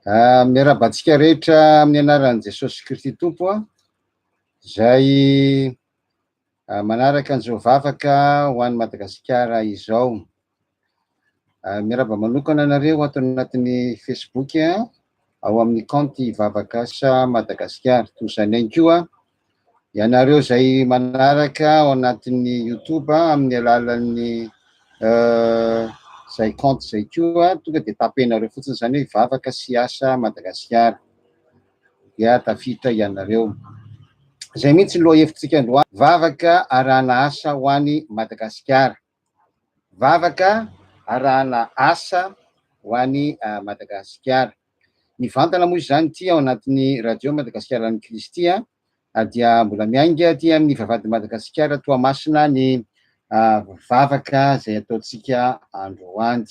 Ah, miarahaba antsika rehetra amin'ny anaran'i Jesosy Kristy Tompo a, izay ah, manaraka an'izao vavaka ho an'i Madagasikara izao. Ah, miarahaba manokana anareo ato anatin'ny Facebook a, ao amin'ny kaonty Vavakasa Madagasikara. Toy izany ihany koa Ianareo izay manaraka ao anatin'ny YouTube amin'ny alalan'ny euh, izay compte izay koa, tonga dia tapenareo fotsiny izany hoe vavaka sy asa Madagasikara. Dia tafita ianareo. Izay mihitsy loha hevitsika androany, vavaka arahana asa ho any Madagasikara. vavaka arahana asa ho an'i Madagasikara. Mivantana moa izany ity ao anatin'ny Radio Madagasikara ny Kristy dia mbola miainga aty amin'ny Vavahady Madagasikara Toamasina ny vavaka izay ataontsika androany.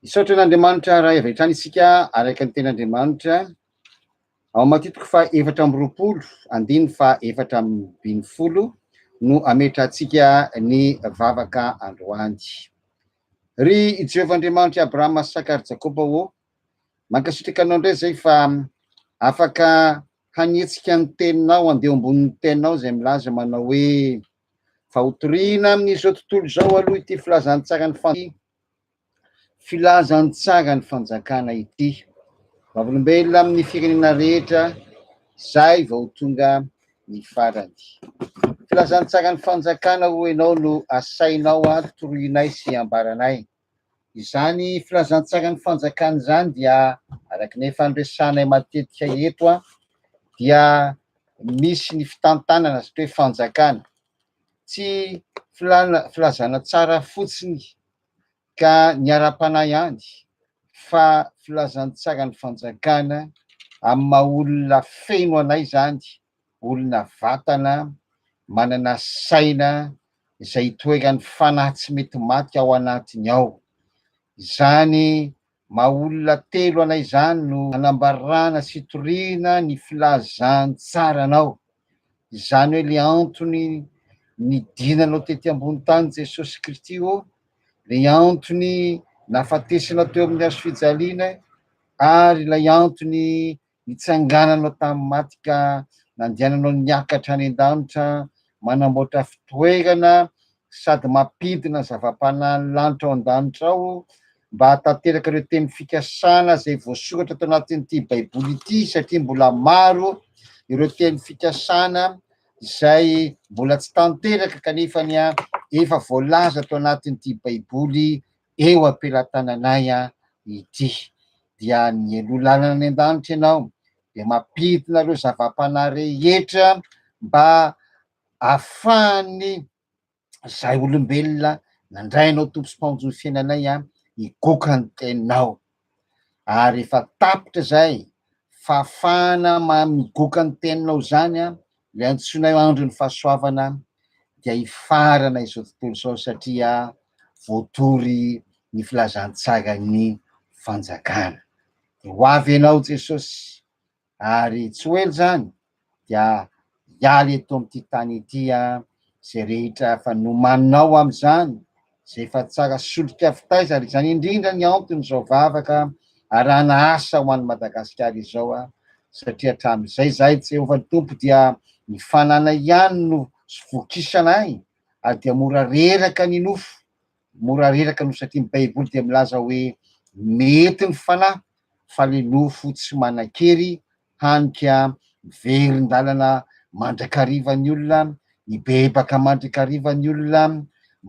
Misaotra an'Andriamanitra raha avy hatrany isika araka ny tenin'Andriamanitra. Ao amin'ny antoko faha efatra amby roapolo, andininy faha efatra ambin'ny folo no ametrahantsika ny vavaka androany. Ry Jehovah Andriamanitry i Abrahama, Isaka ary Jakoba ô, mankasitraka Anao indray izay fa afaka hanetsika ny Teninao handeha eo ambonin'ny Teninao izay milaza manao hoe, Fa hotorihina amin'izao tontolo izao aloha ity filazantsaran'ny fandriana, Filazantsaran'ny fanjakana ity. Vavolombelona amin'ny firenena rehetra, izay vao tonga ny farany. Filazantsaran'ny fanjakana hoy ianao no asainao ahy toroinay sy ambaranay. Izany filazantsaran'ny fanjakana izany dia araka ny efa noresahanay matetika eto dia misy ny fitantanana satria hoe fanjakana. Tsy filana, filazana tsara fotsiny ka ny ara-panahy ihany fa filazantsaran'ny fanjakana amin'ny maha olona feno anay izany, olona vatana, manana saina izay itoeran'ny fanahy tsy mety maty ao anatiny ao. Izany Maha olona telo anay izany no hanambarana sy hitoriana ny filazantsaranao. Izany hoe le antony nidinanao tety ambony tany Jesosy Kristy ô, le antony nahafatesanao teo amin'ny hazo fijaliana ary ilay antony Nitsangananao tamin'ny maty ka nandehananao niakatra any an-danitra, manamboatra fitoerana sady mampidina zava-panahin'ny lanitra ao an-danitra ao mba hahatanteraka ireo teny fikasana izay voasoratra tao anatin'ity Baiboly ity, satria mbola maro ireo teny fikasana izay mbola tsy tanteraka kanefa ny efa voalaza tao anatin'ity Baiboly eo am-pelatananay ity. Dia nialoha lalana any an-danitra ianao, dia mampidina ireo zava-panahy rehetra mba ahafahan'ny izay olombelona nandray anao Tompo sy Mpamonjy ny fiainanay higoka ny teninao. ary efa tapitra izay fahafahana migoka ny teninao izany an, ilay antsoinay hoe andron'ny fahasoavana dia hifarana izao tontolo izao satria voatory ny filazantsaran'ny fanjakana. Dia ho avy ianao Jesosy. Ary tsy ho ela izany dia hiala eto amin'ity tany ity izay rehetra efa nomaninao amin'izany, izay efa tsara solika fitaiza, ary izany indrindra ny anton'izao vavaka arahana asa ho an'i Madagasikara izao, satria hatramin'izay izahay, Jehovah Tompo, dia ny fananay ihany no vokisana ahy, ary dia mora reraka ny nofo. Mora reraka no satria ny baiboly dia milaza hoe mety ny fanahy fa le nofo tsy manan-kery hany ka miverin-dalana mandrakariva ny olona, mibebaka mandrakariva ny olona,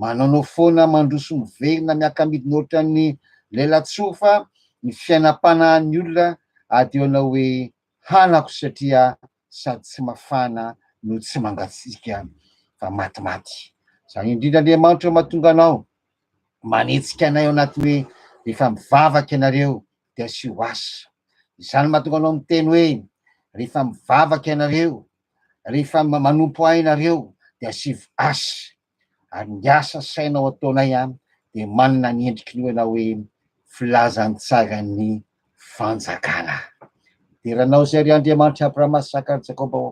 manaonao foana mandroso miverina miaka-midina ohatran'ny lelatsofa ny fiainam-panahin'ny olona, adiona hoe hanako satria sady tsy mafana no tsy mangatsiaka fa matimaty. Izany indrindra Andriamanitra no mahatonga anao manetsika anay ao anatin'ny hoe rehefa mivavaka ianareo dia asio asa. Izany no mahatonga anao miteny hoe rehefa mivavaka ianareo, rehefa manompo ahy ianareo dia asivo asa. ary ny asa sainao ataonay an dia manana ny endriky ny oena hoe filazantsaran'ny fanjakana dera anao izay ry Andriamanitry Abrahama Isaka ary Jakoba ô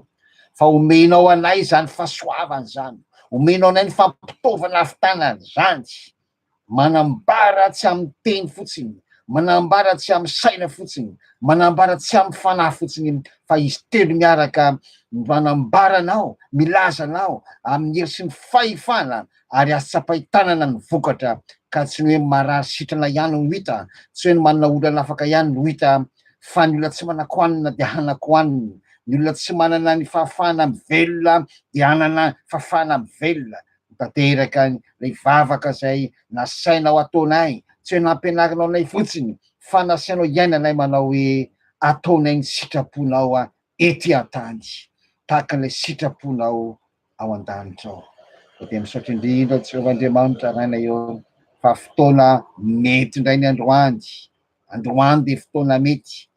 fa omenao anay izany fahasoavana izany omenao anay ny fampitaovana avy tanan'ny zandry Manambara tsy amin'ny teny fotsiny, manambara tsy amin'ny saina fotsiny, manambara tsy amin'ny fanahy fotsiny, fa izy telo miaraka manambara anao, milaza anao amin'ny hery sy ny fahefana, ary azo tsapain-tanana ny vokatra, ka tsy ny hoe marary sitrana ihany no hita, tsy hoe ny manana olana afaka ihany no hita, fa ny olona tsy manan-kohanina dia hanan-kohanina, ny olona tsy manana ny fahafahana mivelona dia hanana fahafahana mivelona, Ho tanteraka ilay vavaka izay nasainao ataonay, tsy hoe nampianarinao anay fotsiny fa nasainao hiainanay manao hoe ataonay ny sitraponao ety an-tany tahaka ilay sitraponao ao an-danitra ao. Dia dia misaotra indrindra Jehovah Andriamanitra Rainay eo fa fotoana mety indray ny androany. Androany dia fotoana mety.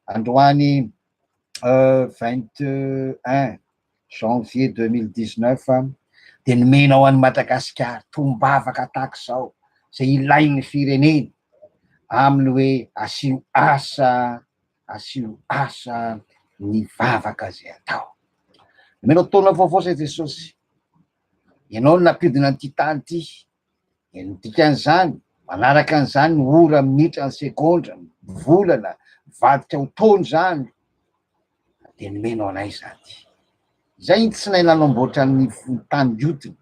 Androany 21 janvier 2019 dia nomena ho an'i Madagasikara tombavaka tahaka izao izay ilain'ny firenena amin'ny hoe asio asa asio asa ny vavaka izay atao. Nomena taona vaovao izay Jesosy. Ianao no nampidina an'ity tany ity. Dia ny dikan'izany, manaraka an'izany ny ora, minitra, ny segondra, ny volana, mivadika ho taona izany. dia nomeno anay izany. Izay ny tsy nahay nanamboatra ny tany hiotiny,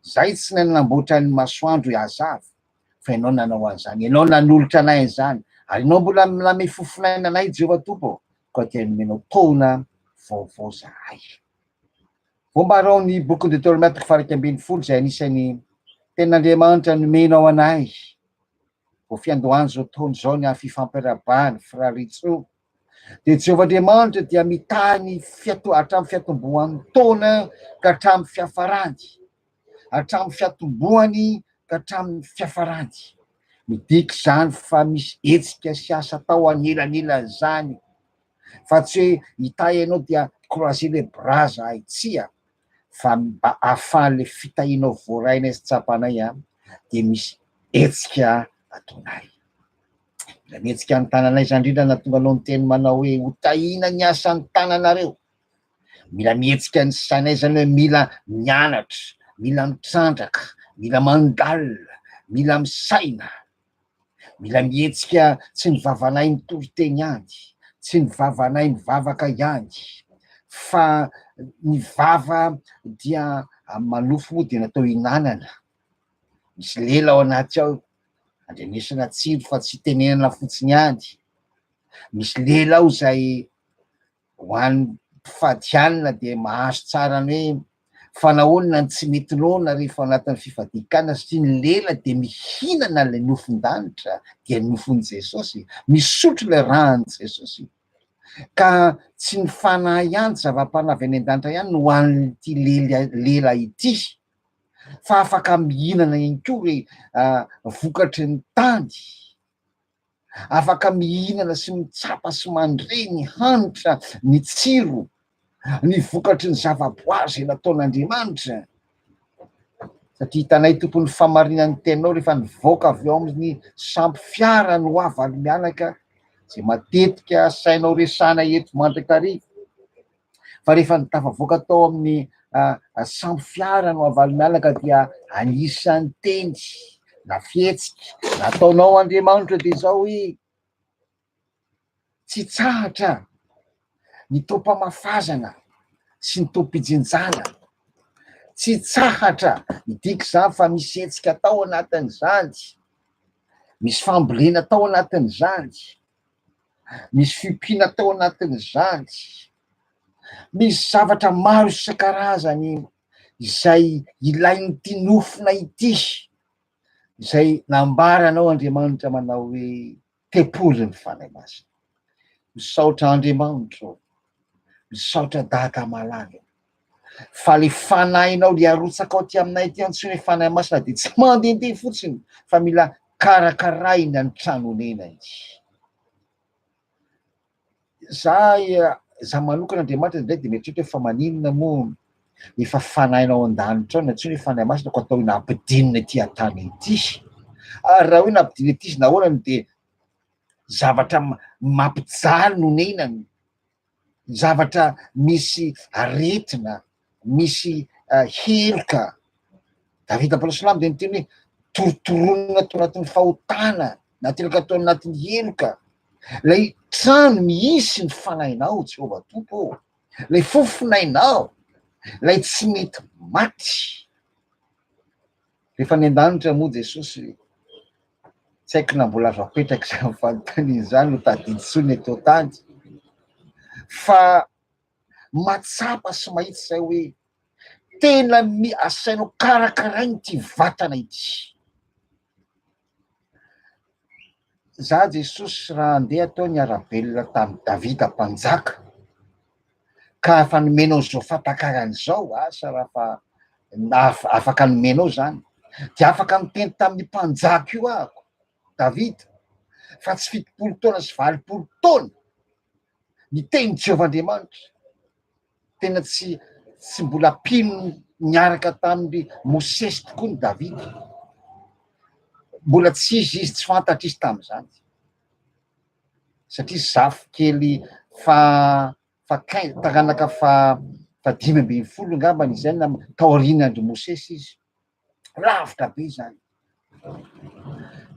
izay tsy nahay nanamboatra ny masoandro hihazava, fa Ianao nanao an'izany, Ianao nanolotra anay an'izany, ary Ianao mbola manome fofon'aina anay, Jehovah Tompo ô, koa dia nomenao taona vaovao izahay. Voambara ao amin'ny bokin'i Deteronomia toko faha-iraika ambin'ny folo izay anisan'ny tenan'Andriamanitra nomenao anay, vao fiandohan'izao taona izao ny hafifampiarabany, Frary Ritsoa, Dia Jehovah Andriamanitra dia mitahy ny fiato, hatramin'ny fiatombohan'ny taona ka hatramin'ny fiafarany. Hatramin'ny fiatombohany ka hatramin'ny fiafarany. Midika izany fa misy hetsika sy asa atao anelanelan'izany. Fa tsy hoe hitahy ianao dia croiser les bras zahay, tsia. Fa mba ahafahan'ilay fitahianao voarainay sy tsapanay, dia misy hetsika ataonay. Raha mihetsika ny tananay izany indrindra na tonga anao niteny manao hoe ho tahiana ny asan'ny tananareo. Mila mihetsika ny sainay izany hoe mila mianatra, mila mitrandraka, mila mandalina, mila misaina. Mila mihetsika tsy ny vavanay mitory teny ihany, tsy ny vavanay mivavaka ihany, fa ny vava dia manofy moa dia natao hinanana. Misy lela ao anaty ao Andrenesana tsindry fa tsy tenenana fotsiny ihany. Misy lela ao izay ho an'ny mpifadihanina dia mahazo tsara ny hoe fa nahoana ny tsy mety noana rehefa anatin'ny fifadian-kanina satria ny lela dia mihinana ilay nofon-danitra dia nofon'i Jesosy, misotro ilay ran'i Jesosy. Ka tsy ny fanahy ihany, zava-panahy avy any an-danitra ihany no ho an'ity lela ity. fa afaka mihinana ihany koa hoe vokatry ny tany, afaka mihinana sy mitsapa sy mandre ny hanitra, ny tsiro, ny vokatry ny zavaboary izay nataon'Andriamanitra. Satria hitanay Tompo ny fahamarinan'ny Teninao rehefa nivoaka avy ao amin'ny sampy fiara ny ho avy ary mianaka, izay matetika asainao resahana eto mandrakariva. Fa rehefa ny tafavoaka tao amin'ny sambo fiara no avalomialaka dia anisan'ny teny na fihetsika nataonao Andriamanitra dia izao hoe, tsy tsahatra ny taom-pamafazana sy ny taom-pijinjana. Tsy tsahatra, midika izany fa misy hetsika tao anatin'izany, misy fambolena tao anatin'izany. Misy fiompiana tao anatin'izany. Misy zavatra maro isan-karazany izay ilain'ity nofona ity, izay nambaranao Andriamanitra manao hoe tempoly ny Fanahy Masina. Misaotra Andriamanitra ô! Misaotra Dada malala. Fa ilay fanahinao, ilay arotsaka ao aty aminay aty antsoina hoe fanahy masina dia tsy mandehandeha fotsiny fa mila karakarahina ny trano onena izy. Za za manokana Andriamanitra indray dia mieritreritra fa maninona moa efa fanahinao an-danitra ao antsoina hoe fanahy masina ko atao hoe nampidinina ety an-tany ety. Ary raha hoe nampidinina ety izy nahoana dia zavatra mampijaly nonenany zavatra misy aretina, misy heloka. Davida Paoly Silamo dia niteny hoe torotoronina tao anatin'ny fahotana, nateraka tao anatin'ny heloka. Ilay trano misy ny fanahinao, Jehovah Tompo ô, ilay fofonainao, ilay tsy mety maty. Rehefa any an-danitra moa Jesosy, tsy haiko na mbola azo apetraka izany fanontaniana izany ho tadidintsoina eto an-tany, fa mahatsapa sy mahitsy izay hoe tena asainao karakaraina ity vatana ity. Izaho Jesosy raha handeha teo ny ara-belona tamin'i Davida mpanjaka, ka efa nomenao izao fampakarana izao, asa raha fa naha- afaka nomenao izany, dia afaka niteny tamin'io mpanjaka io ahako, Davida, fa tsy fitopolo taona sy valopolo taona, niteny Jehovah Andriamanitra. tena tsy tsy mbola mpino niaraka tamin'ny Mosesy tokoa ny Davida. Mbola tsy izy izy tsy fantatra izy tamin'izany. Satria zafy kely fa fa kain taranaka fa fa dimy ambin'ny folo angambany izay na taoriana andry Mosesy izy. Lavitra be izany.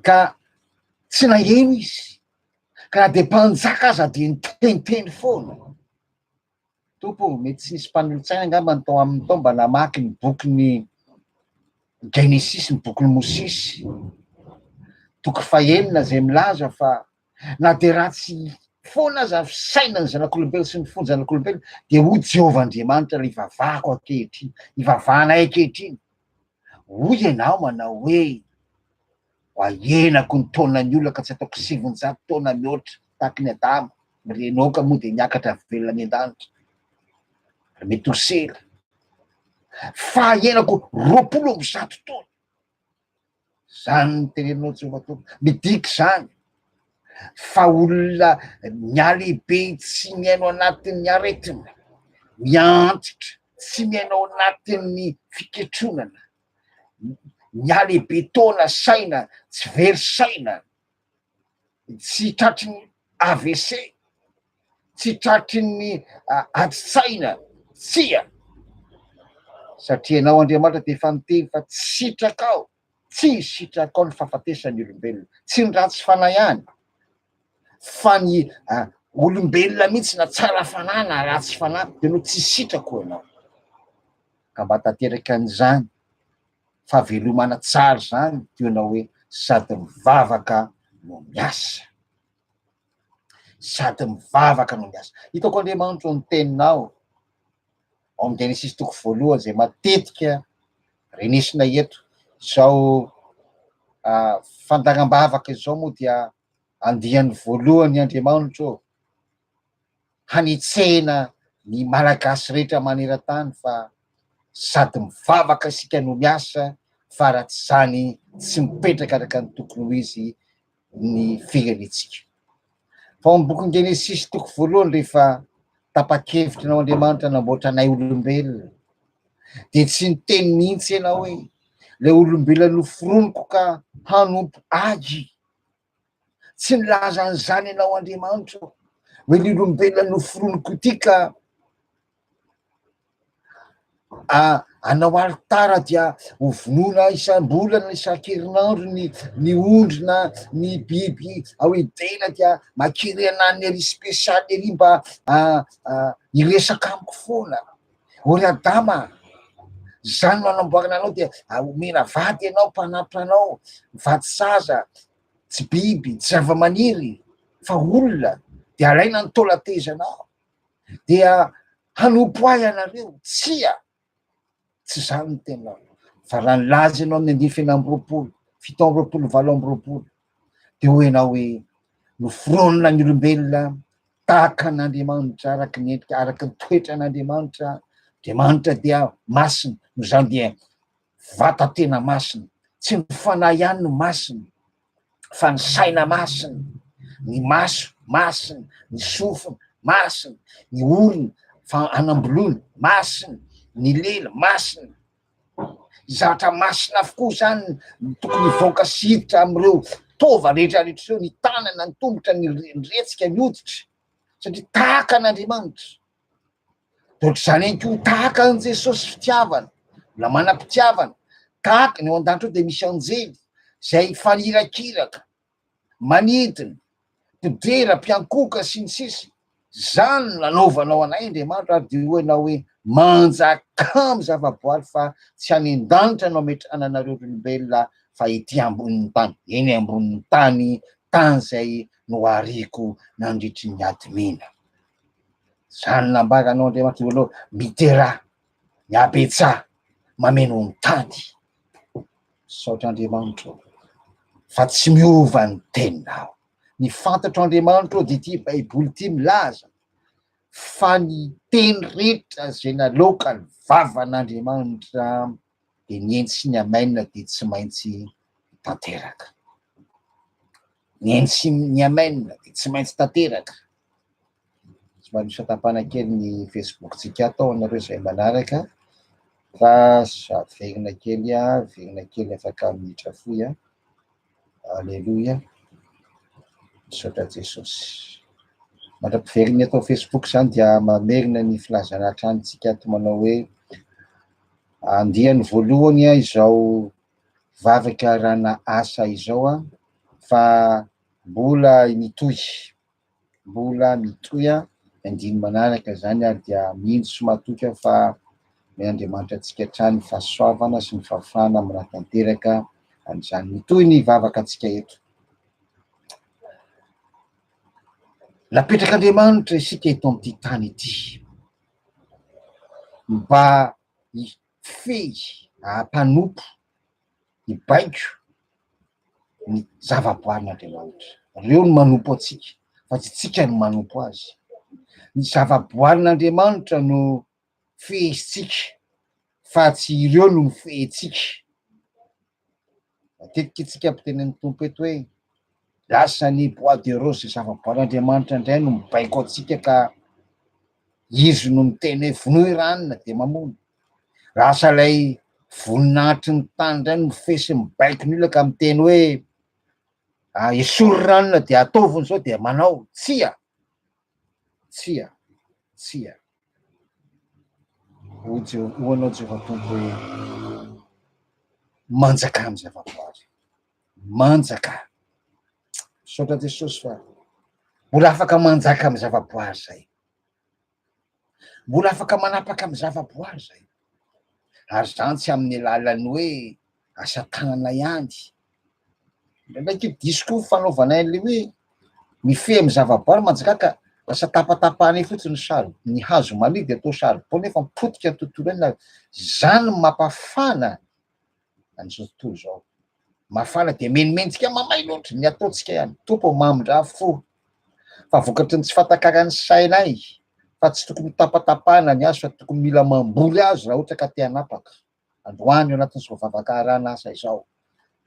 Ka tsy naheno izy. Ka na dia mpanjaka aza dia niteniteny foana. Tompo o, mety tsy nisy mpanolotsaina angambany tao aminy tao mba namaky ny bokin'ny Genesisy, ny bokin'i Mosesy, toko fahenina, izay milaza fa na dia ratsy foana aza ny fisainan'ny zanak'olombelona sy ny fon'ny zanak'olombelona, dia hoy Jehovah Andriamanitra, ilay ivavahako ankehitriny, ivavahanay ankehitriny, Hoy ianao manao hoe, Ahenako ny taonan'ny olona ka tsy ataoko sivinjato taona mihoatra tahaka ny Adama, ny Renoka moa dia niakatra velona any an-danitra, ry Metosela, fa ahenako roapolo amby zato taona. Izany no teneninao Jehovah Tompo. Midika izany fa olona mialehibe tsy mihaino anatin'ny aretina, miantitra, tsy mihaino anatin'ny fiketronana, Nihalehibe taona saina tsy very saina, tsy tratry ny AVC, tsy tratry ny adin-tsaina, tsia! Satria Ianao Andriamanitra dia efa niteny fa tsy sitrakao, tsy sitrakao ny fahafatesan'ny olombelona, tsy ny ratsy fanahy ihany, fa ny olombelona mihitsy na tsara fanahy na ratsy fanahy dia no tsy sitrako ianao. Ka mba tanteraka an'izany fahavelomana tsara izany toy ianao hoe sady mivavaka no miasa. Sady mivavaka no miasa. Hitako Andriamanitro ny teninao. Ao amin'ny Genesisy toko voalohany izay matetika renesina eto, izao fandaram-bavaka izao moa dia andiany voalohany Andriamanitro hanetsehina ny Malagasy rehetra maneran-tany fa sady mivavaka isika no miasa fa raha tsy izany tsy mipetraka araka ny tokony ho izy ny firenentsika. Fa ao amin'ny bokin'i Genesisy toko voalohany rehefa tapa-kevitra ianao Andriamanitra namboatra anay olombelona dia tsy niteny mihitsy ianao hoe ilay olombelona noforoniko ka hanompo ahy. Tsy nilaza an'izany ianao Andriamanitra hoe ny olombelona noforoniko ity ka Ah, anao alitara dia hovonoina isam-bolana isan-kerinandro ny ny ondry na ny biby ao Edena dia mankeny anan'ny ery spesialy ery mba ah, ah, hiresaka amiko foana. O ry Adama, izany no anamboarana anao dia omena vady ianao mpanampy anao, vady saza, tsy biby, tsy zava-maniry fa olona dia alaina ny taola-tezanao. dia hanompo ahy ianareo. Tsia, tsy izany ny tenao. Fa raha nilaza ianao amin'ny andifiny amby roapolo, fito amby roapolo, valo amby roapolo, dia hoy ianao hoe noforonina ny olombelona tahaka an'Andriamanitra araka ny endrika, araka ny toetran'Andriamanitra. Andriamanitra dia masina, noho izany dia vata tena masina. Tsy ny fanahy ihany no masina fa ny saina masina, ny maso masina, ny sofina masina, ny orona fa anamboloana masina, ny lela masina. Zavatra masina avokoa izany no tokony hivoaka sy hiditra amin'ireo taova rehetra rehetra ireo, ny tanana, ny tongotra, ny retsika, ny hoditra satria tahaka an'Andriamanitra. Dia ohatr'izany ihany koa, tahaka an'i Jesosy fitiavana, mbola manam-pitiavana, tahaka ny ao an-danitra ao dia misy anjely izay mifanira-kiraka, manidina, mpidera, mpiankohoka, sy ny sisa Izany no nanaovanao anay Andriamanitra, ary dia hoy ianao hoe, Manjakamy zava-boary fa tsy any an-danitra no ametrahana anareo ry olombelona fa ety ambonin'ny tany, eny ambonin'ny tany, tany izay nohariko nandritry ny hadimena. Zany nambaranao Andriamatoa Lalao midera ny habetsaha mameno ny tany. Misaotra Andriamanitra ô fa tsy miova ny teninao. Ny fantatro Andriamanitra ô dia ity baiboly ity milaza fa ny teny rehetra izay nalaoka ny vavan'Andriamanitra. dia ny eny sy ny amen dia tsy maintsy tanteraka. Ny eny sy ny amen dia tsy maintsy tanteraka. Somary misatapana kely ny Facebook-tsika ato anareo izay manaraka fa averina kely averina kely afaka minitra fohy a. Aleloia. Misaotra Jesosy. Mandra-piverina eto Facebook izany dia mamerina ny filazana hatrany tsika ato manao hoe andiany voalohany a izao vavaka rana asa izao a fa mbola mitohy. Mbola mitohy an, ny andininy manaraka izany ary dia mihinjy sy matoky aho fa omeny Andriamanitra antsika hatrany ny fahasoavana sy ny fahafahana manatanteraka an'izany. Mitohy ny vavaka antsika eto. Napetrak'Andriamanitra isika eto amin'ity tany ity mba fehiny hampanompo hibaiko ny zavaboarin'Andriamanitra. Ireo no manompo antsika fa tsy tsika no manompo azy. Ny zavaboarin'Andriamanitra no fehezintsika fa tsy ireo no mifehy antsika. Matetika isika miteny amin'ny Tompo eto hoe lasa ny bois de rose izay zava-boaran'Andriamanitra indray no mibaiko antsika ka Izy no miteny hoe vonoy ry anona dia mamono. Lasa ilay voninahitry ny tany indray no mifesy mibaiko ny olona ka miteny hoe ah, esory ry anona dia ataovy izao dia manao. Tsia! Tsia! Tsia! Hoy Jeho- hoy anao Jehovah Tompo hoe, Manjaka amin'ny zavaboary. Manjaka. Misaotra Jesosy fa mbola afaka manjaka amin'ny zavaboary zay. Mbola afaka manapaka amin'ny zavaboary zay. Ary zany tsy amin'ny alalan'ny hoe asa tanana ihany. Indraindraiky io diso koa fanaovana an'ilay hoe mifehy amin'ny zavaboary manjakaka lasa tapatapahana eo fotsiny ny sary ny hazo maniry dia atao saribao nefa mipotika ny tontolo eny zany mapafana an'izao tontolo izao mafana dia menomentsika mamay loatra ny ataontsika ihany tompo mamindra fo fa vokatry ny tsy fatakaran'ny sainay fa tsy tokony tapatapahana ny azo fa tokony mila mamboly azy raha ohatra ka te hanapaka androany ao anatin'izao vavakaharana asa izao.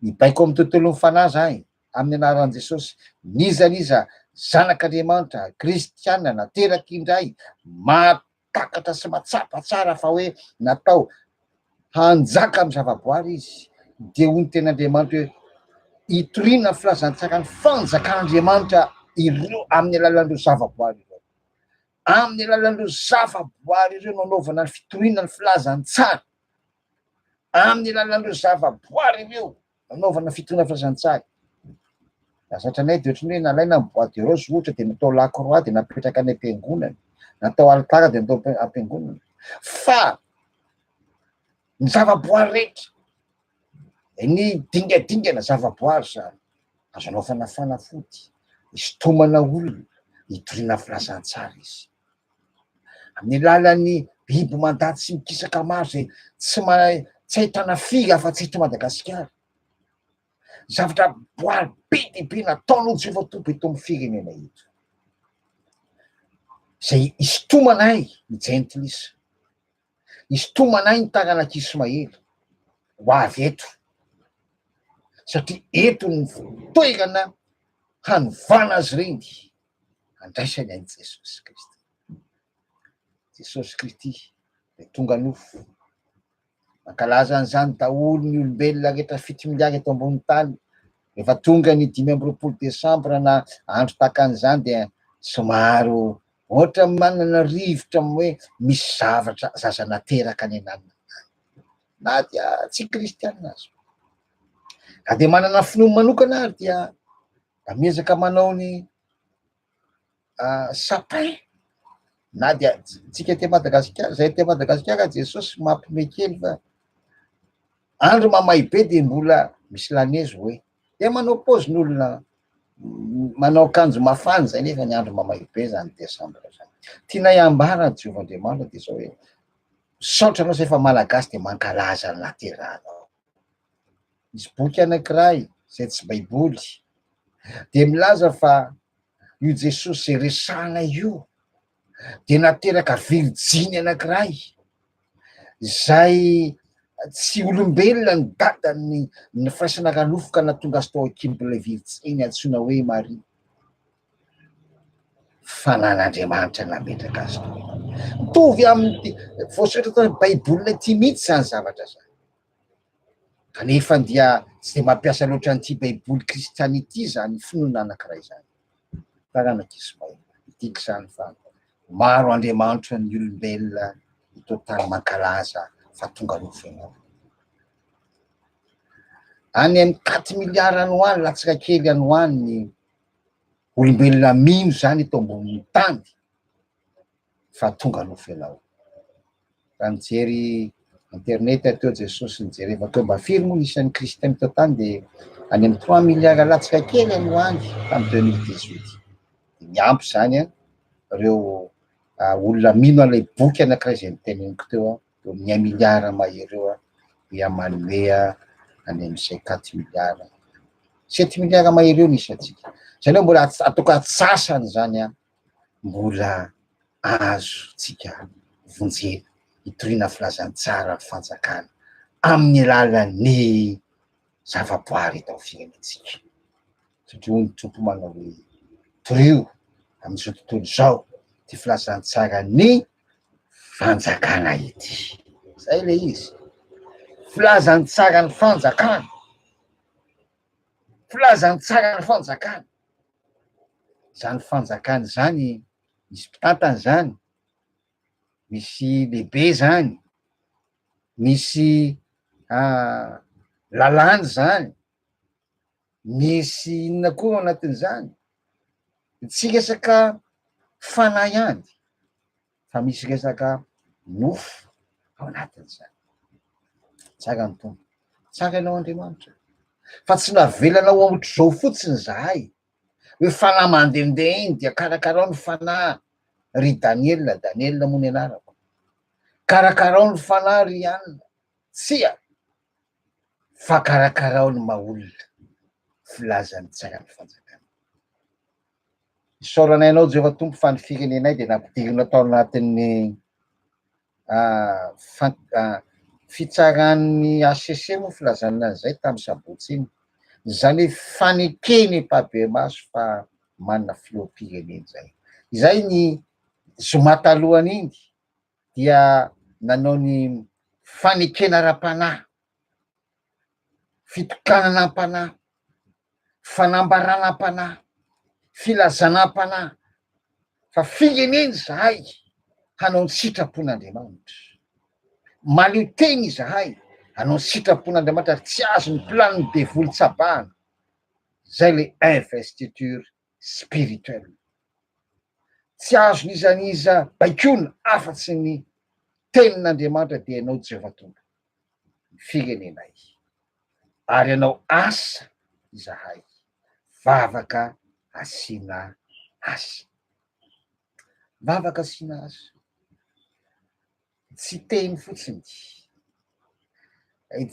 Mibaiko ao amin'ny tontolon'ny fanahy izahay, amin'ny anaran'i Jesosy, n'iza n'iza zanak'Andriamanitra, kristiana, nateraka indray, mahatakatra sy mahatsapa tsara fa hoe natao hanjaka amin'ny zavaboary izy, dia hoy ny tenin'Andriamanitra hoe, Hitoriana ny filazantsaran'ny fanjakan'Andriamanitra ireo amin'ny alalan'ireo zavaboary ireo. Amin'ny alalan'ireo zavaboary ireo no anaovana ny fitoriana ny filazantsara. Amin'ny alalan'ireo zavaboary ireo no anaovana ny fitoriana ny filazantsara. Zatra anay dia ohatran'ny hoe nalaina ny bois de rose ohatra dia natao lakroa dia napetraka any am-piangonana, natao alitara dia natao am-piangonana. Fa ny zavaboary rehetra Ny dingadingana zavaboary izany, azo anaovana fanafody, isintomana olona, itoriana filazantsara izy. Amin'ny alalan'ny biby mandady sy mikisaka maro izay tsy mahay, tsy ahitana fily afa-tsy eto Madagasikara. Zavatra boary be dia be nataon'olo tsy efa toby eto amin'ny firenena eto. Izay isintomana ahy, i Jentilisa. Hisintomana ahy ny taranak'i Ismaely ho avy eto, satria eto no toerana hanovana azy ireny handraisany an'i Jesosy Kristy. Jesosy Kristy dia tonga nofo. Mankalaza an'izany daholo ny olombelona rehetra fito miliara eto ambony tany Rehefa tonga ny dimy amby roapolo desambra na andro tahaka an'izany dia somary ohatran'ny manana rivotra amin'ny hoe misy zavatra zaza nateraka any ananona any, na dia tsy kristiana aza. Raha dia manana finoany manokana ary dia mba miezaka manao ny. ah, sapin na dia tsika te madagasikara zay te madagasikara jesosy mampime kely fa andro mamay be de mbola misy lanezy hoe de manao pozy ny olona manao kanjo mafany zay nefa ny andro mamay be zany desambra zany tianay ambara jehovah andriamanitra de zao hoe saotra anao zay fa malagasy de mankalaza ny lateranao misy boky anankiray zay tsy baiboly de milaza fa Io Jesosy izay resahana io dia nateraka virjiny anankiray izay tsy olombelona ny dadany ny firaisana ara-nofo ka nahatonga azy tao an-kibo ilay virjiny antsoina hoe Maria. Fanan'Andriamanitra nametraka azy tao. Mitovy amin'ny voasoratra tao amin'ny Baiboly ity mihitsy izany zavatra izany. Kanefa dia tsy dia mampiasa loatra an'ity Baiboly kristiana ity izany finoana anankiray izany. Taranak'i Ismael, midika izany fa maro andriamanitry ny olombelona eto an-tany mankalaza fa tonga nofenoina. Any amin'ny quatre miliara any ho any, latsaka kely any ho any ny olombelona mino izany eto ambonin'ny tany. fa tonga nofo ianao. Raha nijery internet teo Jesosy nijery eva teo mba firy moa isan'ny kristiana teo tany dia any amin'ny trois milliards latsaka kely any ho any tamin'ny deux mille dix huit. Dia miampy izany an, ireo olona mino an'ilay boky anankiray izay niteneniko teo an, eo amin'ny un milliard mahery eo an, dia manome any amin'ny cinq quatre milliards, sept milliards mahery eo ny isantsika. Izay aloha mbola atao ka antsasany izany an. mbola azontsika vonjena hitoriana ny filazantsaran'ny fanjakana amin'ny alalan'ny zavaboary eto amin'ny firenentsika satria hoy ny Tompo manao hoe torio amin'izao tontolo izao ity filazantsaran'ny fanjakana ity. Izay ilay izy. Filazantsaran'ny fanjakana. Filazantsaran'ny fanjakana. izany fanjakana izany misy mpitantana izany, misy lehibe izany, misy lalàna izany, misy inona koa ao anatin'izany? Tsy resaka fanahy ihany. fa misy resaka nofo ao anatin'izany. Tsara ny Tompo, tsara ianao Andriamanitra, fa tsy navelanao hamotr'izao fotsiny izahay, hoe fanahy mandehandeha iny dia karakarao ny fanahy ry Daniela, Daniela moa ny anarako, karakarao ny fanahy ry Anna, tsia, fa karakarao ny maha olona, filazan'ny tsara ny fanjakana. Isaoranay Anao, Jehovah Tompo, fa ny firenenay dia nampidirina tao anatin'ny fitsaran'ny hcc moa filazan'ny an'izay tamin'ny sabotsy iny. Izany hoe fanekeny mpabe-maso fa manana filoham-pirenena izay. Izay ny zoma talohan'iny dia nanao ny fanekena ara-panahy fitokananam-panahy, fanambaranam-panahy, filazanam-panahy fa firenena izahay hanao ny sitrapon'Andriamanitra. Mahaleo tena izahay hanao ny sitrapon'Andriamanitra ary tsy azon'ny planin'ny devoly tsabahana. Izay ilay investiture spirituel. Tsy azon' iza an' iza baikoina afa-tsy ny tenin' Andriamanitra dia ianao Jehovah Tompo, ny firenenay. Ary hanao asa izahay, vavaka asiana azy. Vavaka asiana azy. Tsy teny fotsiny.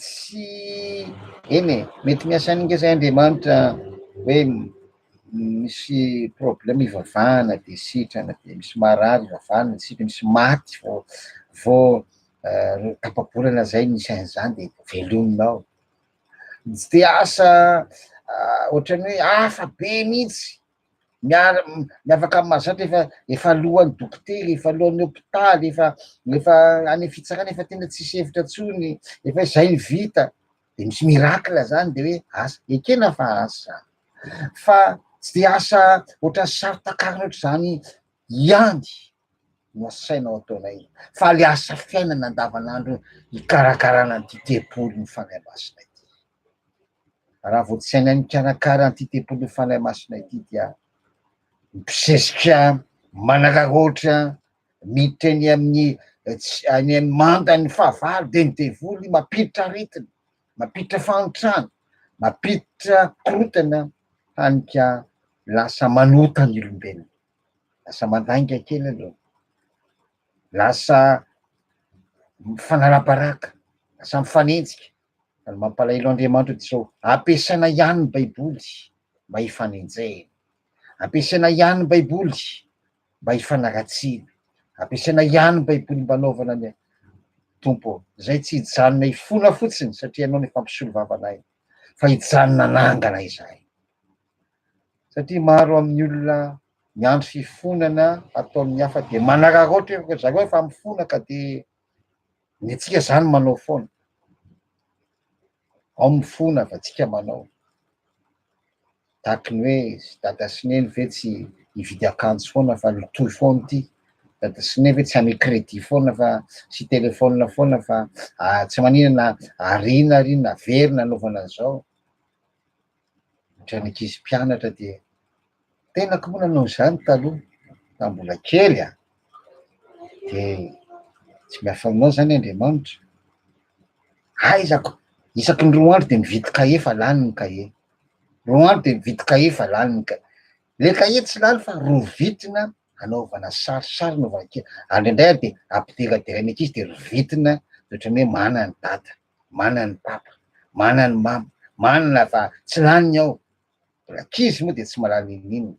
Tsy eny e, mety miasa an'inga izay Andriamanitra hoe misy problème ivavahana dia sitrana, dia misy marary ivavahana dia sitrana, misy maty vao vao tapa-bolana izay ny sain'izany dia velomina ao. Tsy dia asa ohatran'ny hoe hafa be mihitsy. miara miavaka amin'ny mahazatra efa efa alohan'ny dokotera, efa alohan'ny hôpitaly, efa efa any fitsarana efa tena tsisy hevitra intsony, efa izay ny vita, de misy miracle zany de hoe asa, ekena fa asa, fa tsy de asa ohatran'ny sary takarina ohatr'izany ihany no asaina ao ataonay, fa le asa fiainana andavanandro ikarakarana an'ity tempoly ny Fanahy Masina ity. Raha vao tsy hainay mikarakara an'ity tempolin'ny Fanahy Masina ity dia mpisesika, manararaotra, miditra eny amin'ny tsy any amin'ny mandan'ny fahavalo dia ny devoly mampiditra aretina, mampiditra fahantrana, mampiditra korontana hany ka lasa manota ny olombelona, lasa mandainga kely aloha, lasa mifanarabaraka, lasa mifanenjika. Ary mampalahelo Andriamanitra dia izao, ampiasaina ihany ny Baiboly mba hifanenjehina, ampiasaina ihany ny Baiboly mba hifanaratsiana, ampiasaina ihany ny Baiboly mba hanaovana ny Tompo izay tsy hijanona hifona fotsiny satria ianao no efa mpisolo vavanay fa hijanona hanangana izahay. Satria maro amin'ny olona miandry fifonana ataon'ny hafa dia manararaotra ry zareo efa mifona ka dia Ny antsika zany manao foana, ao ny fona fa tsika manao, tahaka ny hoe dada sy neny ve tsy hividy akanjo foana fa ny toy foana ity, dada sy neny ve tsy hame credit foana fa sy telephone foana fa tsy maninona na ariana ary na very nanaovana an'izao. Ohatran'ny ankizy mpianatra dia tena koa moa nanao izany taloha tamin'ny mbola kely a, dia tsy mba fanaonao izany Andriamanitra, aizako isaky ny roa andro dia mividy kahie fa lany ny kahie, roa andro dia mividy kahie fa lany ny kahie, ilay kahie tsy lany fa rovitina hanaovana sarisary anaovana kely, andry indray ary dia ampidiradiraina ankizy dia rovitina dia ohatran'ny hoe manana ny dada. mana ny papa mana ny mama manana fa tsy laniny ao ankizy moa dia tsy mahalala n'inon'inona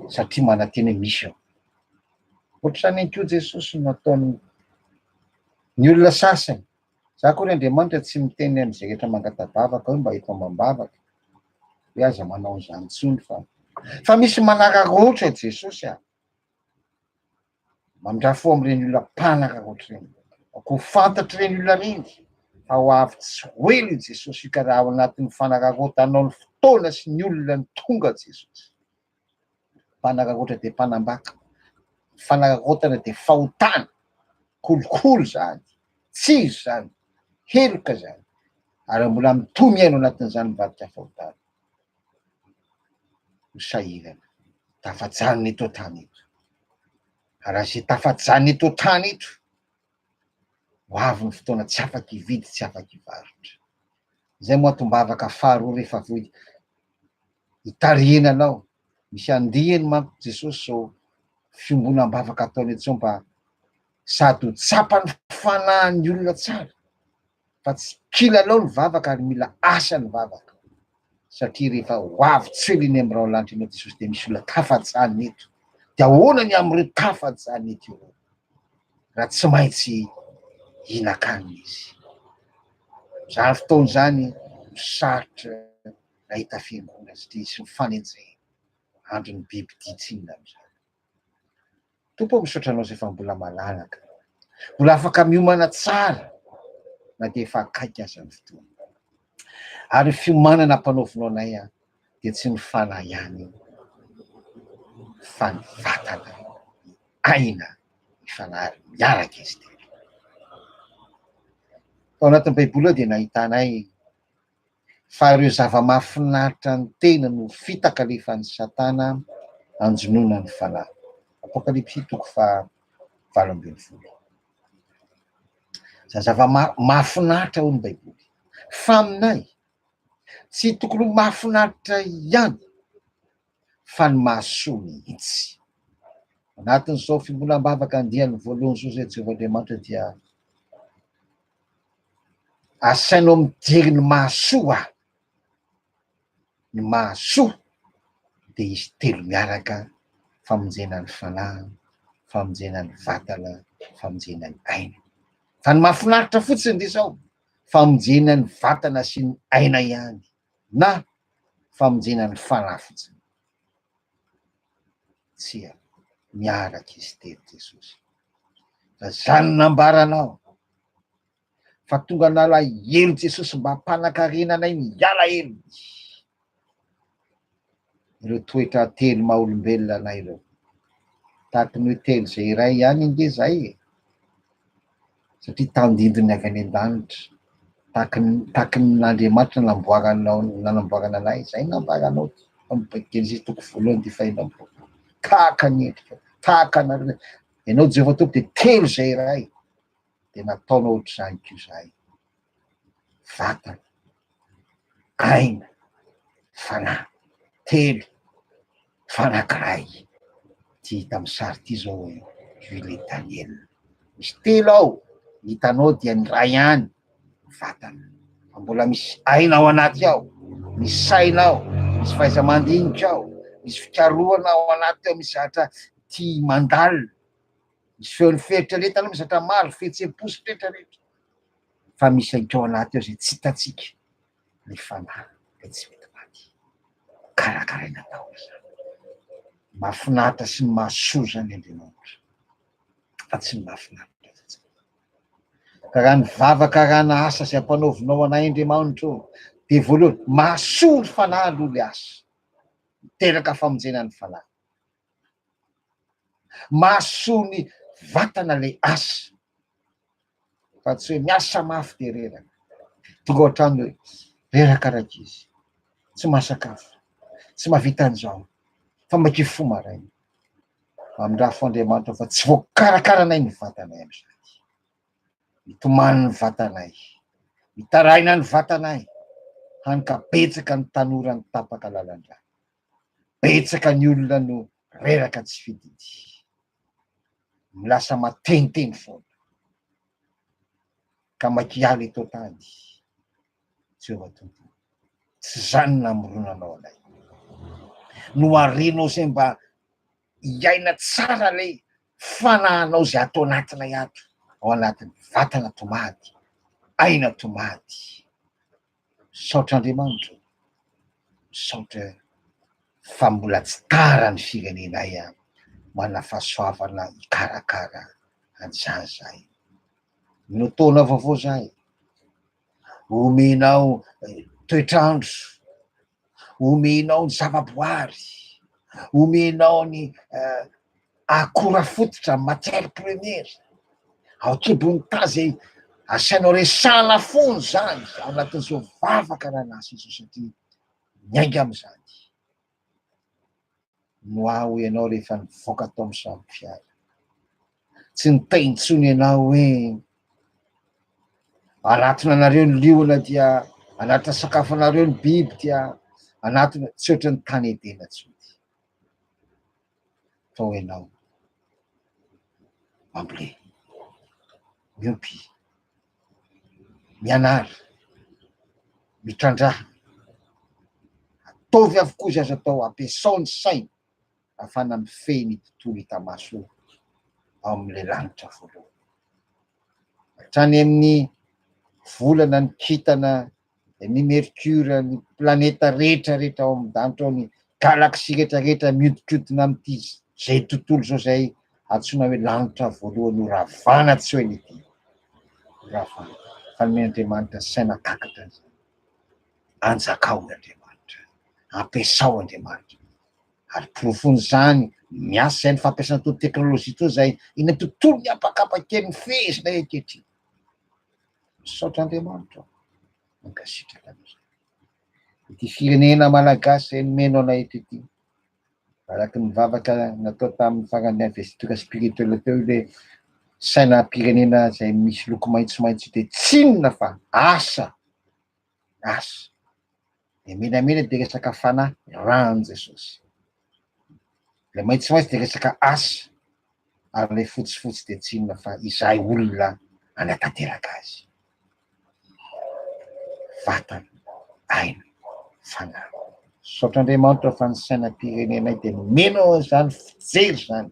satria manantena hoe misy ao ohatrany ihany koa jesosy no ataony ny olona sasany za koa ry andriamanitra tsy miteny am'izay rehetra mangatabavaka hoe mba eto amam-bavaka hoe aza manao an'izany intsony fa fa misy manararaotra jesosy a Mandrà fo amin'ireny olona mpanaka ankoatra ireny. Koa ho fantatr'ireny olona ireny fa ho avy tsy ho ela i Jesosy io ka raha ao anatin'ny fanak'ankoatra anao ny fotoana sy ny olona ny tonga Jesosy. Mpanak'ankoatra dia mpanambaka. Ny fanak'ankoatra dia fahotana, kolikoly izany, tsiry izany, heloka izany. Ary mbola mitohy miaina ao anatin'izany mivadika fahotana. Ho sahirana. Tafajanona eto an-tany eto. Ary raha izay tafajanona eto an-tany eto, ho avy ny fotoana tsy afaka hividy, tsy afaka hivarotra. Izay moa antom-bavaka faharoa rehefa avy eo hitarihina anao. Misy andiany manko Jesosy izao fiombonam-bavaka ataony etsy izao mba sady ho tsapan'ny fanahin'ny olona tsara, fa tsy kilalao ny vavaka ary mila asa ny vavaka satria rehefa ho avy tsely eny amin'ny raolanitra eny amin'i Jesosy dia misy olona tafajanona eto dia ahoana ny amin'ireo tafajanona eto ireo raha tsy maintsy hihinan-kanina izy. Izany fotoana izany no sarotra nahita fiangonana satria hisy ny fanenjehana. Andron'ny biby dia tsinona amin'izany. Tompo ô misaotra anao zay fa mbola malalaka, mbola afaka miomana tsara na dia efa akaiky aza ny fotoana. Ary ny fiomanana ampanaovinao anay dia tsy ny fanahy ihany io fa ny vatana, ny aina, ny fanahy ary miaraka izy telo. Tao anatin'ny baiboly ao dia nahitanay. fa ireo zava-mahafinaritra ny tena no fitaka alefan'i Satana hanjonoana ny fanahy. Apokalypsy toko faha valo ambin'ny folo. Izany zava-mahafinaritra hoy ny Baiboly. Fa aminay, tsy tokony ho mahafinaritra ihany. fa ny mahasoa mihitsy. Anatin'izao fiombonam-bavaka andiany voalohany izao izay Jehovah Andriamanitra dia asainao mijery ny mahasoa aho. Ny mahasoa dia izy telo miaraka, famonjena ny fanahy, famonjena ny vatana, famonjena ny aina. Fa ny mahafinaritra fotsiny dia izao, famonjena ny vatana sy ny aina ihany. na famonjena ny fanafitsy. Tsia, miaraka izy telo Jesosy. Fa izany nambaranao, fa tonga nalahelo Jesosy mba hampanakarena anay ny alahelo. ireo toetra telo maha olombelona anay ireo. Tahaka ny hoe telo izay iray ihany ange izahay e! satria tandindon'ny avy any an-danitra, tahaka ny tahaka ny Andriamanitra namboaranao nanamboarana anay, izay no nambaranao amin'ny Genesisy toko voalohany dia faheno amin'ny roapolo, tahaka ny endrikao, tahaka anareo, ianao Jehovah Tompo dia telo izay iray. dia nataonao ohatr'izany koa izahay. Vatana, aina, fanahy, telo, mifanankiray. Ity hita amin'ny sary ity izao hoe huile Daniel. Misy telo ao, ny hitanao dia ny iray ihany vatana. Fa mbola misy aina ao anaty ao, misy saina ao, misy fahaiza-mandinika ao, misy fikarohana ao anaty ao, misy zatra tia mandalina. Misy feon'ny fieritreretana misy zatra maro, fihetsem-po sy pretrapretra, fa misy ihany koa ao anaty ao izay tsy hitantsika, ny fanahy dia tsy mety maty. Karakaraina daholo izany. Mahafinaritra sy mahasoa izany Andriamanitra, fa tsy ny mahafinaritra fotsiny. Ka raha ny vava karana asa izay ampanaovinao anay Andriamanitra ô, dia voalohany, mahasoa ny fanahy aloha ilay asa, miteraka famonjena ny fanahy. Mahasoa ny vatana ilay asa fa tsy hoe miasa mafy dia reraka. Tonga ohatrany hoe reraka rankizy, tsy mahasakafo, tsy mahavita an'izao, fa maika fo maraina. Mamindrafo fo Andriamanitra fa tsy voakarakaranay ny vatanay amin'izany. Mitomany ny vatanay, mitaraina ny vatanay, hany ka betsaka ny tanora nitapaka lalan-drà. Betsaka ny olona no reraka tsy fididy. Ny lasa mateniteny foana. Ka makialy eto tany. Jehovah Tompo o. Tsy izany namoronanao anay. Noharinao izay mba hiaina tsara ilay fanahinao izay ato anatinay ato, ao anatin'ny vatana tomady, aina tomady. Misaotra Andriamanitra ô! Misaotra fa mbola tsy tara ny firenenay manana fahasoavana hikarakara an'izany izahay. Mino taona vaovao izahay, homenao toetr'andro. omenao ny zavaboary, omenao ny uh, akora fototra, matière première, ao kibon'ny tazy asianao resana fony zany ao anatin'izao vavaka nanasa izao satria miainga amin'izany. Noa hoy ianao rehefa nivoaka tao amin'ny sambo fiara. Tsy nitay intsony ianao hoe anatona anareo ny liona dia anatona sakafo anareo ny biby dia anatona tsy ohatry ny tany Edena intsony. Tao ianao. Mamble. Miompy. mianara, mitrandrahana, ataovy avokoa izay azo atao, ampiasao ny saina ahafahana mifehy ny tontolo hita maso ao amin'ilay lanitra voalohany. Hatrany amin'ny volana ny kintana dia ny mercure, ny planeta rehetra rehetra ao amin'ny danitra ao, ny galaxie rehetra rehetra mihodinkodina amin'ity izay tontolo izao izay antsoina hoe lanitra voalohany ho ravana tsy hoe ny ity ho ravana fa ny Andriamanitra saina kakatra an'izany anjakao ny Andriamanitra ampiasao Andriamanitra ary porofon'izany miasa izay ny fampiasana toa teknolojia toa izay ina tontolo ny apakapakely ny fehezina ekehitriny Misaotra Andriamanitra aho, mankasitraka anareo. Ity firenena malagasy izay nomeno anay eto ity, araka ny vavaka natao tamin'ny faran'ny investiture spirituel teo ilay sainam-pirenena izay misy loko maitsomaitso ity, tsinona fa asa. asa dia menamena dia resaka fanahy ran'i Jesosy. Ilay maitsomaitso dia resaka asa ary ilay fotsifotsy dia tsy inona fa izahay olona anatanteraka azy. Vatana, aina, fanahy. Misaotra Andriamanitra fa ny sainam-pirenenay dia nomena izany fijery izany.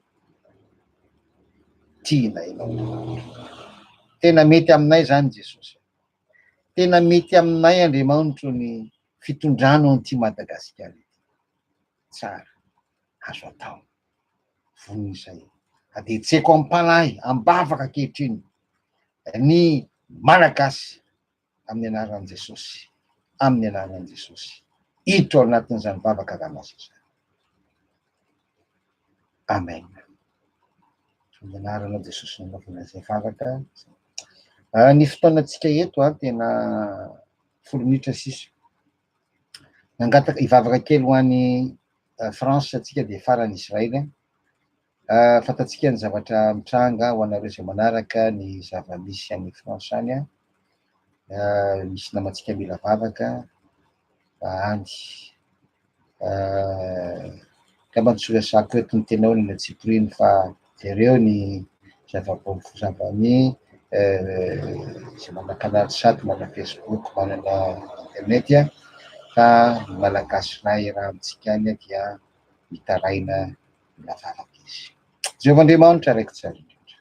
Tiana ianao. Tena mety aminay izany Jesosy. Tena mety aminay Andriamanitro ny fitondrana an'ity Madagasikara ity. Tsara, azo atao. Vonona izay. Adihetseko am-panahy, am-bavaka ankehitriny ny Malagasy amin'ny anaran'i Jesosy, amin'ny anaran'i Jesosy. Hiditra ao anatin'izany vavaka ranomaso izany. Amen. Amin'ny anaran'i Jesosy nanaovana izay vavaka. Ah, ny fotoanantsika eto ah, tena folo minitra sisa. Nangataka hivavaka kely ho any ah, France atsika dia farany Israël. Ah, fantatsika ny zavatra mitranga ho anareo izay manaraka ny zava-misy any France any. Ah, misy namantsika mila vavaka. Any. Euh, angamba tsy resako eto ny tenao ny tsipiriny fa jereo ny zavaboary fozambany izay euh, manana canal sat manana facebook manana internet a fa ny malagasy iray erantsika any dia mitaraina ny lavarangeza jehovah andriamanitra araiky tsara indrindra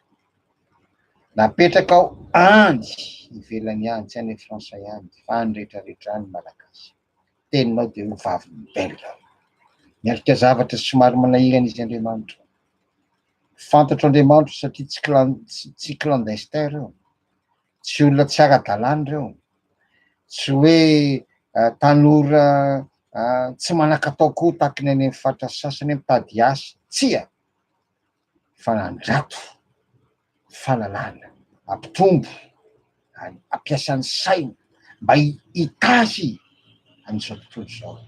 Napetraka ao andy ivelany any, tsy any France ihany fa any rehetra rehetra any Malagasy. Teninao dia ho vavin'ny Belge. Miatrika zavatra somary manahirana izy Andriamanitra. Fantatro Andriamanitro satria tsy tsy clandestin ireo, tsy olona tsy ara-dalàna ireo, tsy hoe eh, tanora eh, tsy manan-katao koa tahaka ny any amin'ny faritra sasany mitady asa. Tsia! fa andrato fananahana, ampitombo, ampiasa ny saina mba hitahy an'izao tontolo izao,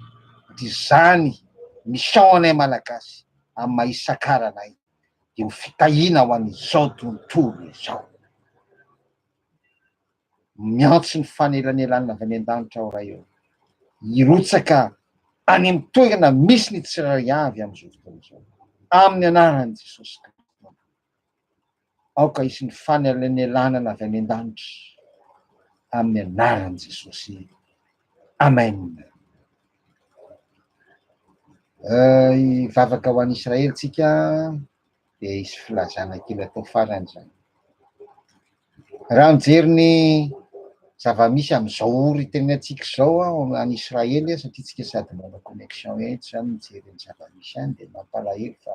dia izany mission anay Malagasy amin'ny maha isakara anay dia ho fitahiana ho an'izao tontolo izao. Miantso ny fanelanelanana avy any an-danitra aho Ray ô, hirotsaka any amin'ny toerana misy ny tsirairay avy amin'izao fotoana izao, amin'ny anaran'i Jesosy Kristy Tompo. Aoka hisy ny fanelanelanana avy any an-danitra, amin'ny anaran'i Jesosy. Amen. Hivavaka ho an'i Israely tsika. dia hisy filazana kely atao farany izany. Raha mijery ny zava-misy amin'izao ory teninantsika izao any Israely, satria tsika sady manao connexion etsy izany mijery ny zava-misy any, dia mampalahelo fa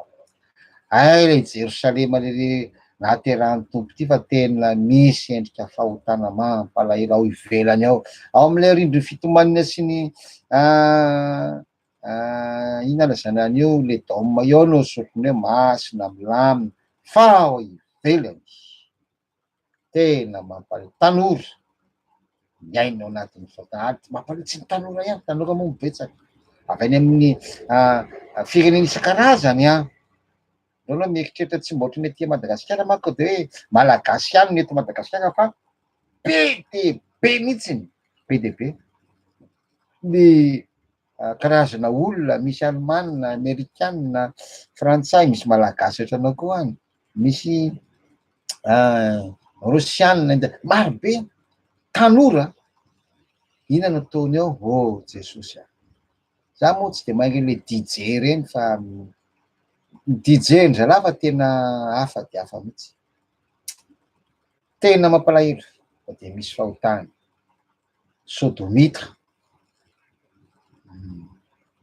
ay ilay Jerosalema lehibe nahaterahan'ny tompo ity fa tena misy endrika fahotana mampalahelo ao ivelany ao, ao amin'ilay rindrin'ny fitomanina sy ny ah, Ah, inona zany any eo le dôme eo no zokiny hoe masina milamina fa ao ivelany tena mampare tanora miaina ao anatin'ny fotahady mampare tsy ny tanora ihany tanora moa mibetsaka avy any amin'ny ah, firenena isan-karazany an ah. Reo aloha mieritreritra tsy mba ohatran'ny aty Madagasikara manko de hoe Malagasy ihany no eto Madagasikara fa be de be mihitsiny, be de be ny karazana olona misy Alemana, Amerikana, Frantsay, misy Malagasy ohatranao koa any, misy Rosiana, India, maro be tanora, inona no ataony ao? Oh Jesosy a! Za moa tsy dia mahay ireny hoe DJ ireny fa ny DJ ndry zalahy fa tena hafa dia hafa mihitsy. Tena mampalahelo fa dia misy fahotany. Sodomita. Hmm.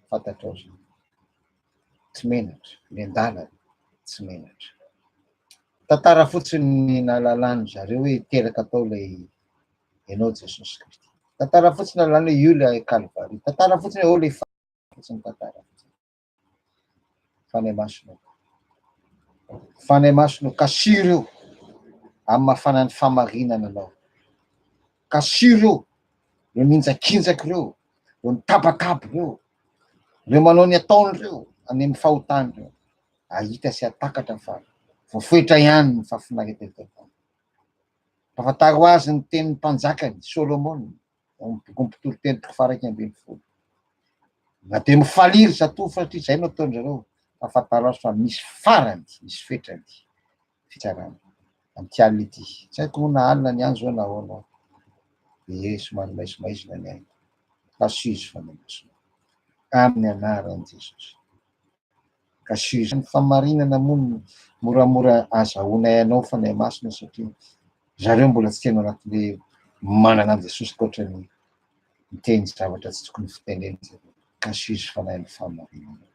Fantatrao zany. Tsy menatra, ny an-dalana tsy menatra. Tantara fotsiny ny nahalalany zareo hoe teraka tao ilay Ianao Jesosy Kristy. Tantara fotsiny alana hoe io ilay Kalvary. Tantara fotsiny hoe ilay fotsiny tantara fotsiny. Fanay masonao. Fanay masonao. Kasiro io. Amin'ny mafanan'ny famarinana anao. Kasiro io. Ireo ninjakinjaka ireo. Ireo mitabataba ireo. Ireo manao ny ataony ireo. Any amin'ny fahotany ireo. Ahita sy atakatra fa voafoetra ihany ny fafinaretan'ny tantara. Mpafantaro azy ny tenin'ny mpanjakany Solomona, ao amin'ny bokin'ny Mpitoriteny toko faha-iraika ambin'ny folo. Na dia mifalia ry zatovo satria izay no ataon-dry zareo, mpafantaro azy fa misy farany, misy fetrany fitsarana amin'ity alina ity. Tsy haiko moa na alina ny any izao na ahoana, dia somary maizimaizina ny aina. Lasizy fanamasina amin'ny anaran'i Jesosy. Ka sujet ny fahamarinana moa no moramora azahoanay anao Fanahy Masina satria zareo mbola tsy tena anaty hoe manana an'i Jesosy ankoatra ny miteny zavatra tsy tokony fitenena zareo. Ka sujet Fanahy ny fahamarinana.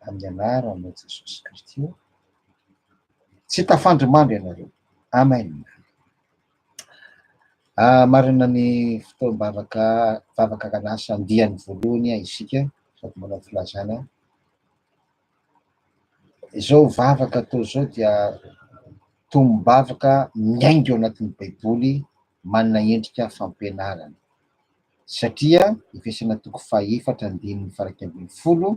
Amin'ny anaran'i Jesosy Kristy. Tsy tafandry mandry ianareo. Amen. Marina ny fotoam-bavaka vavaka akan'asa andiany voalohany isika sady manao filazana. Izao vavaka atao izao dia tombom-bavaka miainga ao anatin'ny Baiboly manana endrika fampianarana satria efesana toko fahefatra andininy faha iraika ambin'ny folo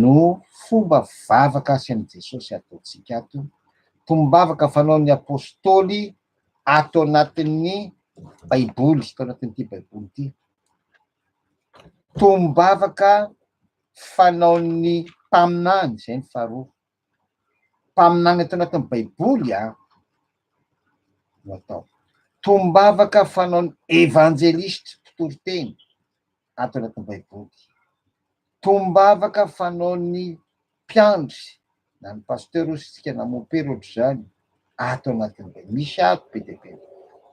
no fomba vavaka asin'i Jesosy ataontsika ato, tombavaka fanaon'ny Apôstôly ato anatin'ny Baiboly, ato anatin'ity Baiboly ity. Tombavaka fanaon'ny mpaminany, izay ny faharoa. Mpaminany ato anatin'ny Baiboly a, no atao. Tombavaka fanaon'ny evanjelistra, mpitoriteny, ato anatin'ny Baiboly. Tombavaka fanaon'ny mpiandry na ny pasteur ozy tsika na mopera ohatr'izany ato anatin'ny Baiboly. Misy ato be dia be.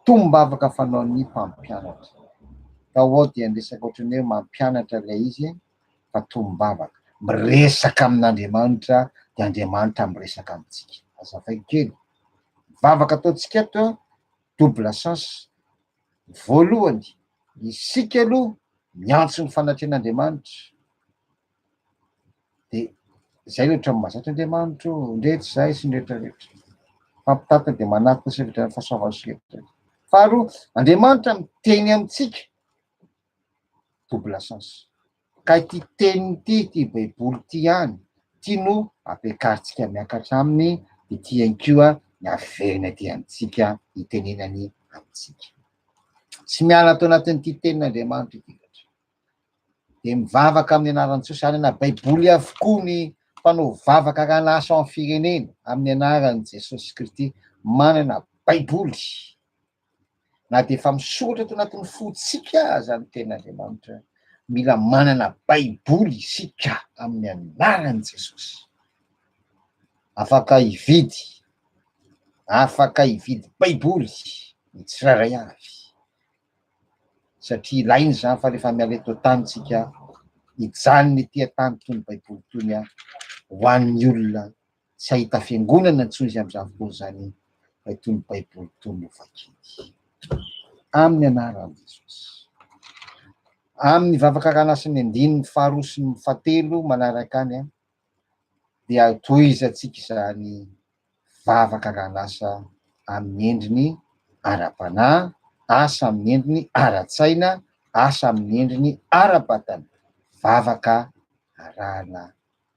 Tombavaka fanaon'ny mpampianatra. Fa ao dia ny resaka ohatran'ny hoe mampianatra ilay izy fa tombavaka. Miresaka amin'Andriamanitra dia Andriamanitra miresaka amintsika. Azavaiko kely. Vavaka ataontsika ato double sens Voalohany, isika aloha miantso ny fanatrehan'Andriamanitra, dia izay no ohatran'ny mahazatra Andriamanitra io, ndre tsy izay sy ny rehetra rehetra. Fampitantana dia manatona sy ny fiverenan'ny fahasoavan'ny sokajy rehetra. Faharoa, Andriamanitra miteny amintsika. double sens. Ka ity teniny ity, ity baiboly ity ihany, ity no ampiakarintsika miakatra aminy, ity ihany koa ny averiny aty amintsika, itenenany amintsika. Tsy miala ato anatin'ity tenin'Andriamanitra ity loatra. Dia mivavaka amin'ny anaran'i Jesosy, any anaty baiboly avokoa ny mpanao vavaka raha lasa ao amin'ny firenena, amin'ny anaran'i Jesosy Kristy, manana baiboly Na dia efa misoratra ato anatin'ny fontsika aza ny Tenin'Andriamanitra, mila manana Baiboly isika amin'ny anaran'i Jesosy. Afaka hividy, afaka hividy Baiboly ny tsirairay avy, satria ilaina izany fa rehefa miala eto an-tany isika, hijanona ety an-tany itony Baiboly itony ho an'ny olona Tsy hahita fiangonana intsony izy amin'izany fotoan'izany raha itony Baiboly itony no vakiany. Amin'ny anaran'i Jesosy. Amin'ny vavaka ranasin'ny andininy faharoa sy ny fahatelo manaraka any dia tohizantsika izany vavaka ran'asa amin'ny endriny ara-panahy, asa amin'ny endriny ara-tsaina, asa amin'ny endriny ara-batana, vavaka arahana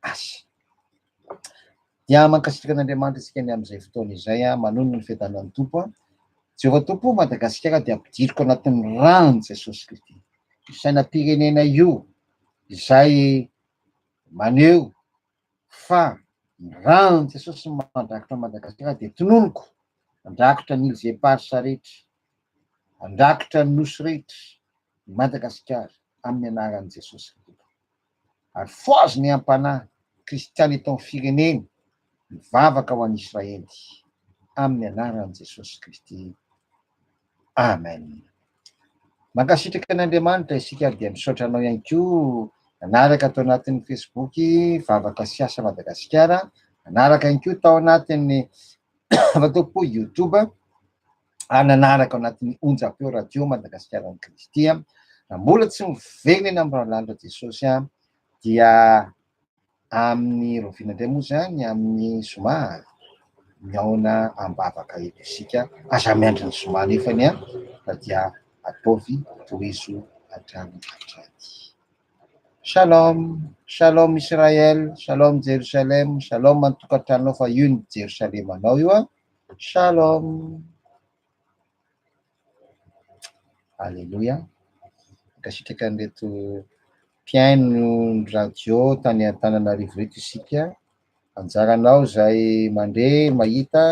Azy. Dia mankasitraka an'Andriamanitra isika ny amin'izay fotoana izay, manonona ny fiadanan'ny Tompo an. Jehovah Tompo, Madagasikara dia ampidiriko anatin'ny ran'i Jesosy Kristy. Io sainam-pirenena io izay maneho fa ny ran'i Jesosy no mandrakotra Madagasikara dia tononiko, andrakotra ny îles éparses rehetra, andrakotra ny nosy rehetra, Madagasikara, amin'ny anaran'i Jesosy. ary foazy ny ampanà kristiana eto amin'ny fireneny mivavaka ho an'i Israely amin'ny anaran'i Jesosy Kristy. Amen. Mankasitraka an' Andriamanitra isika ary dia misaotra anao ihany koa nanaraka tao anatin'ny Facebook Vavaka sy Asa Madagasikara, nanaraka ihany koa tao anatin'ny Vavaka Youtube. ary nanaraka ao anatin'ny onjam-peo Radio Madagasikara-n'i Kristy, raha mbola tsy miverina amin'ny ralala Jesosy dia amin'ny roviana indray moa izany amin'ny zoma mihaona am-bavaka eto isika, aza miandry ny zoma nefany an, fa dia ataovy tohizo hatrany hatrany. Shalom, shalom Israël, shalom Jérusalem, shalom an-tokantranonao fa io ny Jerosalemanao io an. Shalom. Alléluia. Mankasitraka an'ireto mpihaino ny radio tany Antananarivo reto isika. Anjaranao izay mandre, mahita,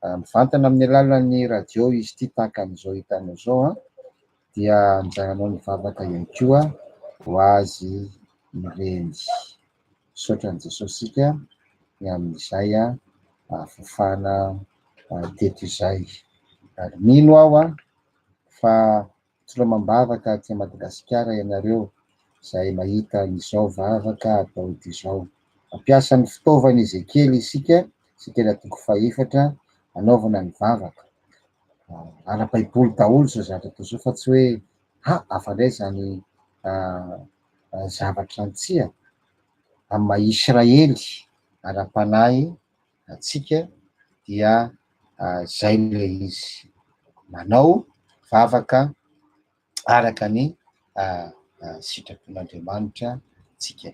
ah, mivantana amin'ny alalan'ny radio izy ity tahaka an'izao hitanao izao an, ah. dia anjaranao ny vavaka ihany koa ho azy ireny. Misaotra an'i Jesosy isika ny amin'izay nahafafana teto izay. Ary mino aho fa mitsirom am-bavaka aty Madagasikara ianareo izay mahita an'izao vavaka Daoda izao. Mampiasa ny fitaovan'i Ezekiela isika, Ezekiela toko fahefatra, hanaovana ny vavaka. Ara-baiboly daholo izao zavatra atao izao fa tsy hoe ha afa-ndray izany zavatra antsika, amin'ny maha Israely ara-panahy antsika dia izay ilay izy, manao vavaka araka ny sitrapon'Andriamanitra antsika.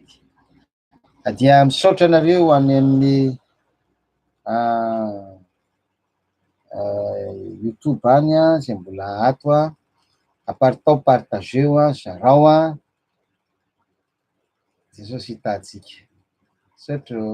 Dia misaotra anareo any amin'ny YouTube any izay mbola ato a, aparitao partageo a, zarao a. Jesosy hitantsika. Misaotra ô.